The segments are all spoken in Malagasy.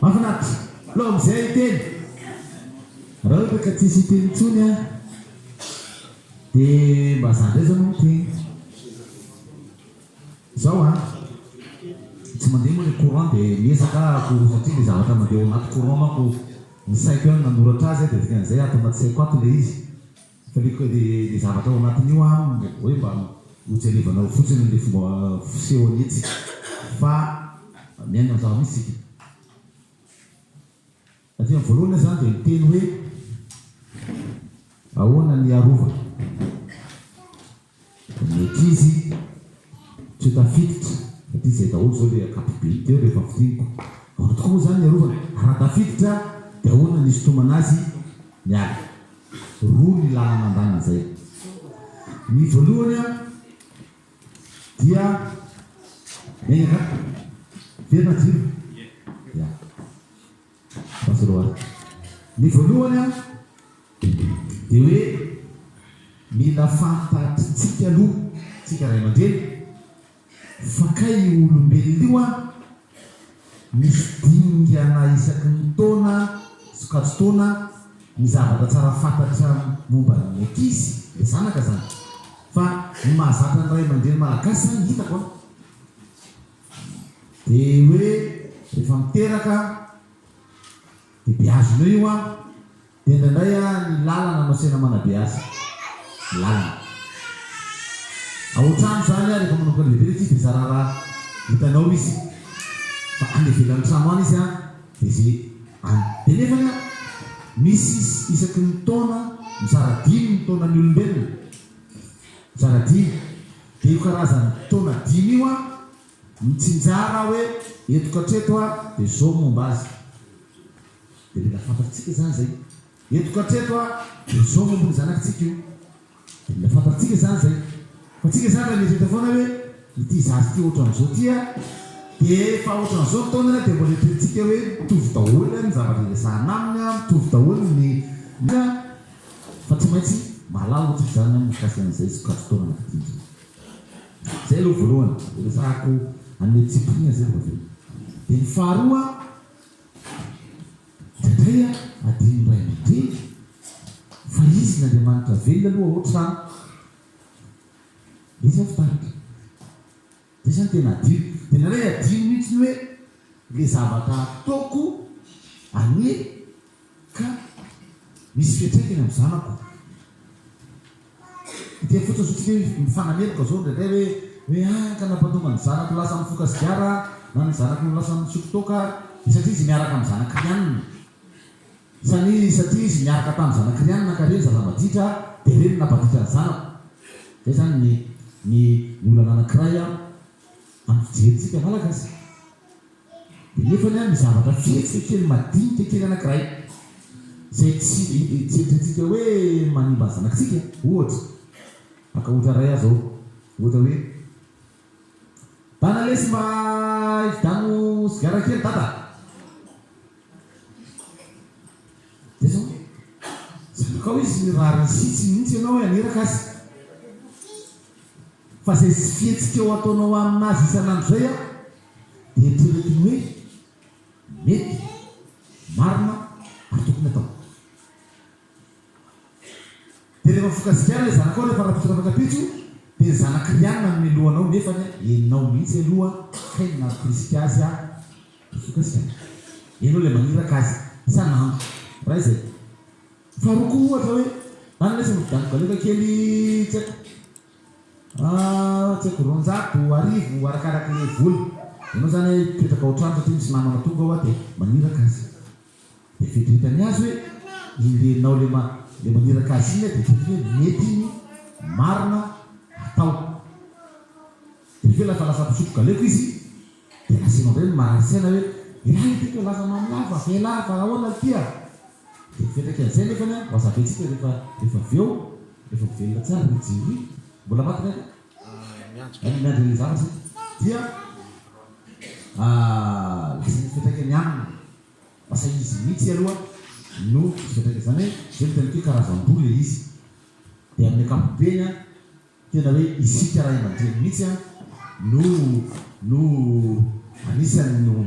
Mafinaritra. Alao amizay hiteny. Ra ohatra ka tsisy hiteny intsony an de mba za ndray zao no miteny. Zao an, tsy mandeha moa le courant de miezaka ako satria le zavatra mandeha ao anaty courant manko ny saiko ihany nanoratra azy de dikan'izay ato anaty saiko ato le izy. Aleo ka dia ilay zavatra ao anatin'io an, hoe mba hojerevanao fotsiny ilay fomba fisehony etsy fa miaina ny zava-misy isika. Aty amin'ny voalohany aho izany dia miteny hoe ahoana ny hiarovana. Ny ankizy tsy tafiditra fa ty zay daholo zao le ankapobeny teo rehefa fintiniko. Ahoana tokoa moa zany ny arovana e? Raha tafiditra de ahoana ny isintomana azy miala? Roa ny lalana andaniny zay. Ny voalohany a dia miainga angamba. Miverina jiro? Ia. Fahatsiarovana. Ny voalohany an, dia hoe mila fantatritsika aloha tsika ray aman-dreny fa kay io olombelona io an, misy dingana isaky ny taona, sokajin-taona, ny zavatra tsara fantatra momba ny ankizy, ilay zanaka zany. Fa ny mahazatra ny ray aman-dreny malagasy zany hitako an, Dia hoe rehefa miteraka dia beazina eo io an! Dia indraindray an ny lalana no asaina manabeaza ny lalana. Ao an-trano izany an rehefa manomboka lehibe ilay tsisy dia zara raha hitanao izy fa any ivelan'ny trano any izy an dia izay any. Dia nefany an misy isaky ny taona mizara dimy ny taonan'ny olombelona, mizara dimy. Dia io karazan'ny taona dimy io an, mitsinjara aho hoe eto ka hatreto an, dia izao ny momba azy. Dia mila fantatritsika izany izay. Eto ka hatreto an, dia izao ny momba ny zanakitsika io. Dia mila fantatritsika izany izay. Fa tsika izany raha mieritreritra foana hoe ity zaza ity ohatran'izao ity an, dia efa ohatran'izao ny taonany an, dia mbola eritreretintsika hoe mitovy daholo an ny zavatra iresahana aminy an, mitovy daholo ny. Fa tsy maintsy mahalala ohatra izany aho mikasika an'izay sokajy taona anankidimy izay. Izay aloha voalohany, dia resahako an'ilay discipline izay aloha ve. Dia ny faharoa, indraindray adinon'ny ray aman-dreny fa izy n'Andriamanitra velona aloha ohatra izy aho fitarika. Dia zany tena adino. Dia nareo adino mihitsy ny hoe le zavatra ataoko anie ka misy fiantraikany amin'ny zanako. Dia fotsiny zao tsika hoe mifanameloka zao indraindray hoe hoe ah ka nampatonga ny zanako lasa mifoka sigara na ny zanako no lasa misotro toaka dia satria izy miaraka amin'ny zanak'i Rianina. Fa ny satria izy niaraka tamin'ny zanak'i Riana nankarỳ ny zava-maditra, dia reny no nampanditra ny zanako. Izay izany ny ny ny olana anankiray amin'ny fijerintsika Malagasy. Dia nefany an, ny zavatra fihetsika kely madinika kely anankiray, izay tsy tsy eritreretintsika hoe manimba ny zanakitsika, ohatra, aka ohatra iray aho izao, ohatra hoe. Dada lesy mba ividano sigara kely dada Dia zao Zanakao izy nirariny sitsy mihitsy ianao haniraka azy Fa zay tsy fihetsik'eo ataonao amina azy isan'andro zay an Dia eritreretiny hoe mety, marina ary tokony atao. Dia rehefa vokasikara ilay zanakao rehefa rafitra afaka pitso dia ny zanak'i Ryan nanome loha anao nefany a enao mihitsy aloha kay no nampirisika azy a dia vokasikara enao ilay maniraka azy sa nano iray izay faharoa koa ohatra hoe na ny lesy mividiano galioka kely tsy haiko tsy haiko roanjato arivo arakaraky ilay vola enao zany a hipetraka ao an-trano satria misy namana tonga ao a dia maniraka azy Dia vintavintany azy hoe ileinao le le maniraka azy iny dia fantany hoe mety iny marina hatao. Dia avy eo lasa lasa mpisotro galeko izy dia lazainao indray ny marary saina hoe elah le tiako hilaza amam lah fa avy elah fa ahoana le ty a! Dia fetrak'izay nefa ny an wazabentsika rehefa rehefa avy eo rehefa mivelona tsara ry jerry mbola maty ny an. Any miandry an'ilay zavatra izy dia lasa ny fiantraikany aminy, lasa izy mihitsy aloha no misy fiantraikany, izany hoe izay no itantsika hoe karazam-boa ilay izy, dia amin'ny ankapobeny an, tena hoe isika ray aman-dreny mihitsy an no no anisan'ny no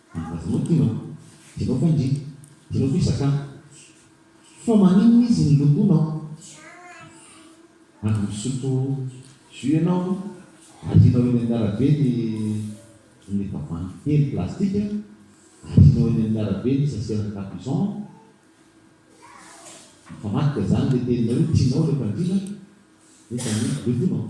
Mba zao ty ra. Jereo fa ndry. Jereo fa isak an. Fa maninona izy ny lokonao. Avy misotro jus ianao arianao eny amin'ny arabe ny ny tavoahangy telo plastika, arianao eny amin'ny arabe ny sachet-na capuchon. Mifamadika zany le teninao io, tianao le fandriana nefa ny lokonao.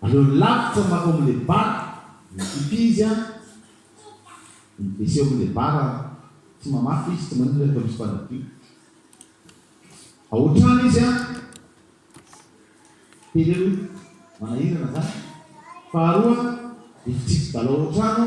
Aleo lavitra mankao amle bar mikimpy izy an! Miveseho amle bar an! Tsy mamafa izy tsy maninona nefa misy mpanadio ao an-trano izy an! Teny aloha manahirana zany. Faharoa dia fitsipi-dalao ao an-trano.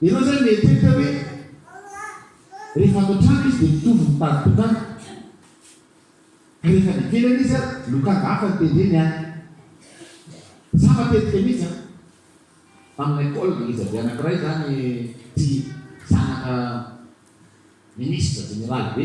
Ianao izany mieritreritra hoe rehefa ato an-trano izy dia mitovy mitady tokana, ka rehefa any ivelany izy an, lokanga hafa ny tendreny an! Za matetika mihitsy an, tamin'ilay col ngezabe anankiray izany tsy zanaka ministra, jeneraly be,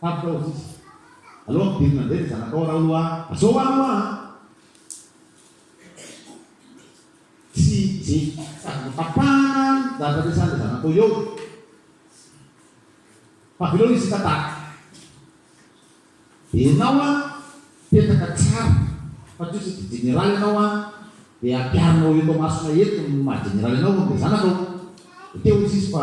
Tampoka hoy izy. Aleo ampidirina indray ny zanakao raha aloha a! Azao ho any hoa a! Tsy jejiko sady notapahana ny zavatra niresahan'ilay zanakao eo fa avelao izy hitantara. Dia ianao a, petraka tsara fa tsy hoe saingy jeneraly ianao a, dia ampiharinao eto masonay eto ny maha jeneraly anao amin'ilay zanakao. Dia te-ho izy izy fa.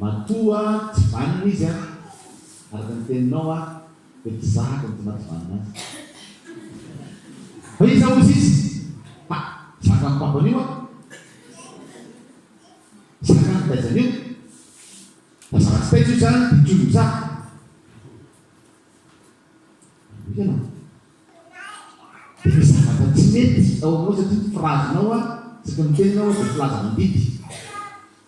Matoa tsy vanona izy an! Araka ny teninao aho dia mpizahako ny tsy maha tsy vanona azy. Fa iza ozy izy? Ha! Zakan'i papany io an! Zakan'i taizany io! Fa zava-tsy taiza io zany dia toy ny zaka. Hoy ianao. Dia misy zavatra tsy mety ao aminao satria ny firazinao an! Isaky ny miteny ianao an dia filaza mandidy.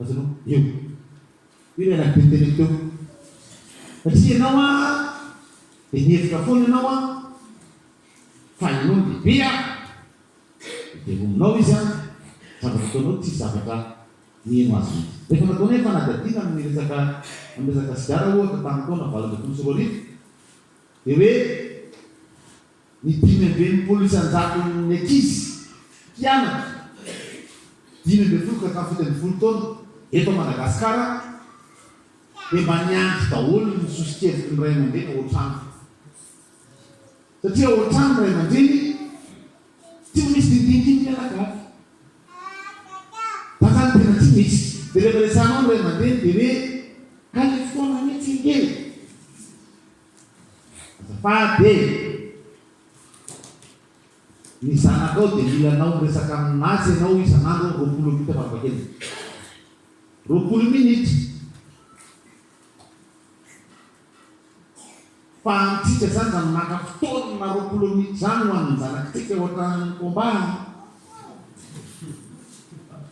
Azonao? Eo. Io ilay nabe nitereko teo. Satria ianao an, dia nihevitra foana ianao an, fa ianao no lehibe an, dia velominao izy an, ny zavatra ataonao tsisy zavatra niheno azy mihitsy. Efa nataonay fanadihadiana amin'ny resaka amin'ny resaka sigara ohatra tamin'ny taona valo ambin'ny folo sy roa arivo, dia hoe Ny dimy amby enimpolo isan-jaton'ny ankizy mpianatra dimy ambin'ny folo ka hatramin'ny fito ambin'ny folo taona eto Madagasikara dia mba niandry daholo ny soso-keviky ny ray aman-dreny ao an-trano. Satria ao an-trano ny ray aman-dreny tsy misy dinidinika ny mpianakavy. Zany zany tena tsy misy. Dia rehefa resahinao ny ray aman-dreny dia hoe, ka ilay fotoana anie tsy engeny. Fady e! Ny zanakao dia mila anao miresaka aminazy ianao isan'andro roapolo minitra farafahakeliny. Roapolo minitra! Fa antsika izany izany maka fotoana roapolo minitra izany ho an'ny zanakitsika ohatran'ny combat an!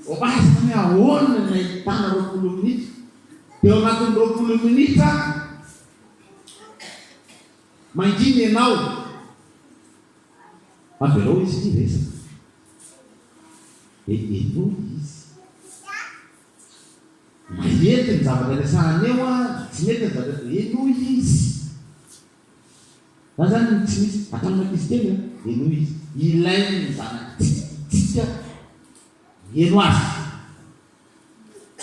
Combat izany ahoana ny ahitana roapolo minitra? Dia ao anatin'ny roapolo minitra Mangina ianao. Avelao izy ity hiresaka. Dia eo izy. Mahety ny zavatra resahana eo an, tsy mety ny zavatra resahana. Henoy izy. Za zany no tsy misy ataon'ny ankizy kely an, henoy izy. Ilain'ny zanakitsika ny mihaino azy.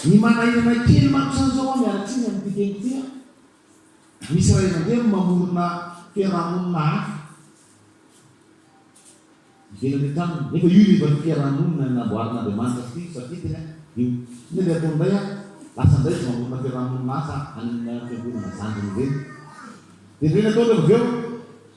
Ny manahiranay kely mantsy aho izao an, miala tsiny amin'ity teny ity an, misy ray aman-dreny mamorona fiarahamonina hafa ivelany ny tranony, nefa io no efa fiarahamonina namboarin'Andriamanitra sy Kristy tafidiny an, io. Inona dia ataony indray an, lasa indray izy mamorona fiarahamonina hafa any amin'ny fiangonana zandriny ireny. Dia inona no ataony avy eo?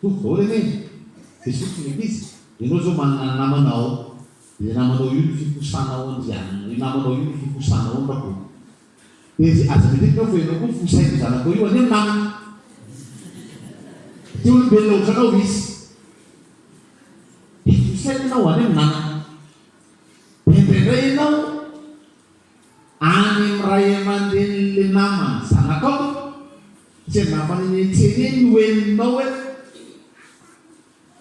Toa vola anie de sokitra ny ankizy, ianao zao manana namana ao de namanao io ny fifosanao andrianina io namanao io ny fifosanao ny rakoto de zay aza midika aho fa ianao koa fosain'ny zanakao io anie ny namana de te olombelona otranao izy de fosaina ianao anie ny namana de indraindray ianao Any amin'ny ray aman-drenin'ilay naman'ny zanakao, tsy angamba ny nenitseniny no henonao hoe,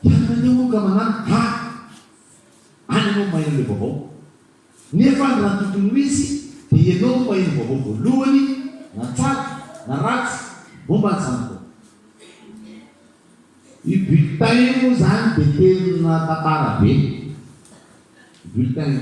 Hianao andeha hono ka manana a! Any ianao maheno ilay vaovao. Nefa any raha tokony ho izy dia ianao no maheno vaovao voalohany na tsara na ratsy momba ny zanakao. Io bulletin io moa izany dia tena tantara be io bulletin io.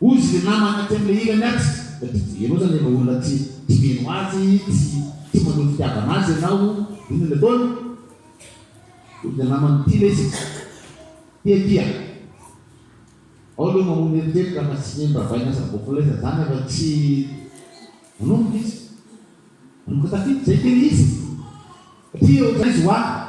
Hoy izy le namany aty amle ilany aty dia ianao zany efa olona tsy tsy mino azy tsy tsy maneho fitiavana azy ianao inona le ataony hoy le namany ty le izy tia tia ao aloha mamono eritreritra fa tsy mino ravay na zavokoleza zany efa tsy manomboka izy manomboka tafiditra zay tena izy satria ohatrany izy ho ahy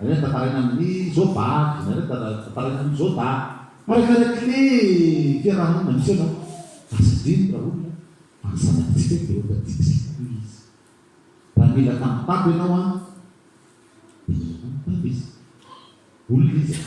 Nareo tafaraina amin'ny zoba, nareo tafaraina amin'ny zoba. Mpikarakara ny fiarahamonina misy ianao fa tsy adino raha olona fa ny zanatsika dia ohatra antsika hoy izy. Raha nila tamim-pako ianao an dia nila tamim-pako izy. Olona izy an.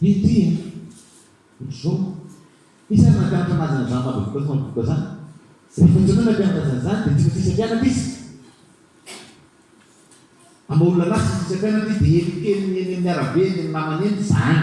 Vity a! Ry zo! Iza no nampianatra anazy an'izany mavitrika sy mavitrika izany? Ry vondrona no nampianatra azy an'izany dia tsy misy isa-mpianatra izy. Ama olona anazy tsy misy isa-mpianatra izy dia elokeliny eny amin'ny arabe eny amin'ny namany eny izaany.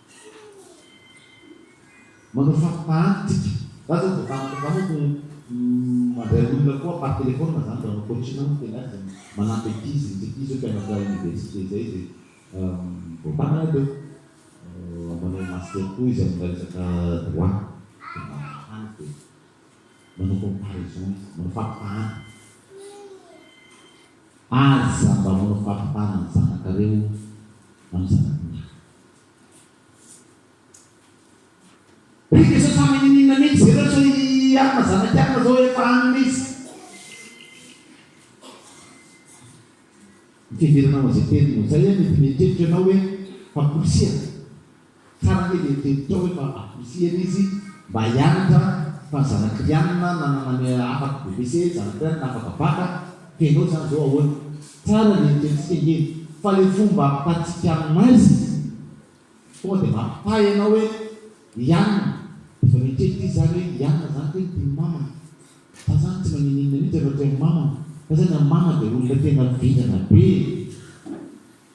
Manao faritany tsika. Za zao vao tampoka za manko mandray olona koa par téléphone zany mba manao coaching no tena azy zany manampy ankizy misy ankizy zao mpianatra université zay zay vao taminy teo manao master koa izy amina resaka droit de maritany de manao comparaison izy manao faritany. Aza mba manao faritany ny zanakareo na ny zanaky ny hafa. Ry Jesoa sa mininninona mihintsy ve nareo sao i Anna zanaky Anna zao efa any mihintsy. Ny fiheveranao an'izay teny no zay an, mety mieritreritra ianao hoe famporisihana. Taran'ny lehibe tao efa Akrisian izy mba hianatra fa zanak'Rianina nanana ny afaka bbc zanak'Rianina afaka baka feno zany zao ahoana? Tsara le ekentsika nge fa le fomba ampitantsika aminazy tonga de mampitahy anao hoe Rianina efa miheritreritra izy zany hoe Rianina zany kay mpino mamany fa zany tsy manininona mintsy anao teo amin'ny mamany fa zany amin'ny mama de olona tena vendrana be e!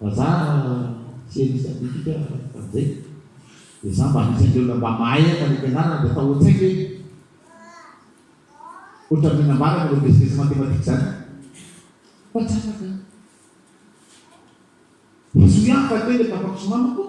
Vazaha serie scientifique frantsay dia za mba anisan'ny olona mba mahay haka ny fianarana dia atao an-tsaiko hoe ohatran'ny nambarako ireo vitsivitsy matematika izany fa tsy afaka. Diso ihany fa kely efa afaka somanina koa.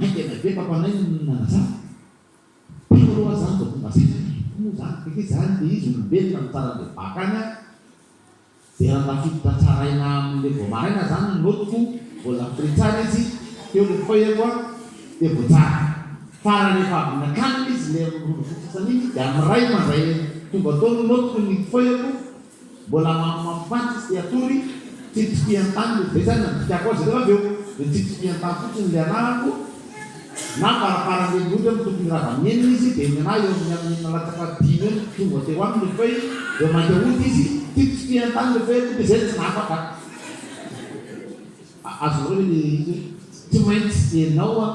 Ainga ny avia fa fanahy no nanazava. Tiko aloha zany vao tonga saina fa iko moa zany efa iza zany le izy olombelona no tsara le baka any an! de raha tafiditra tsaraina amin le vao maraina zany ny notiko vao lafitry tsara izy teo le feuille-ko an! de vao tsara fa raha rehefa avy nakanina izy le mirondrofo fotsiny iny de amin ray mandray tonga tao ny notiko ny feuille-ko Mbola mamimamipaty izy dia atory tsy tsipihan-tany no be zany nandikan-ko azy ireo avy eo dia tsy tsipihan-tany fotsiny ny lianahako na faraparany eny ohatra ny tokony rava ny enina izy dia ny anah eo amin'ny amin'ny enina latsaka dimy eo no tonga teo aminy rehefa hoe eo mainka hody izy tsy tsipihan-tany rehefa hoe hody izay tsy nafaka azonareo ve ny tsy maintsy enao an!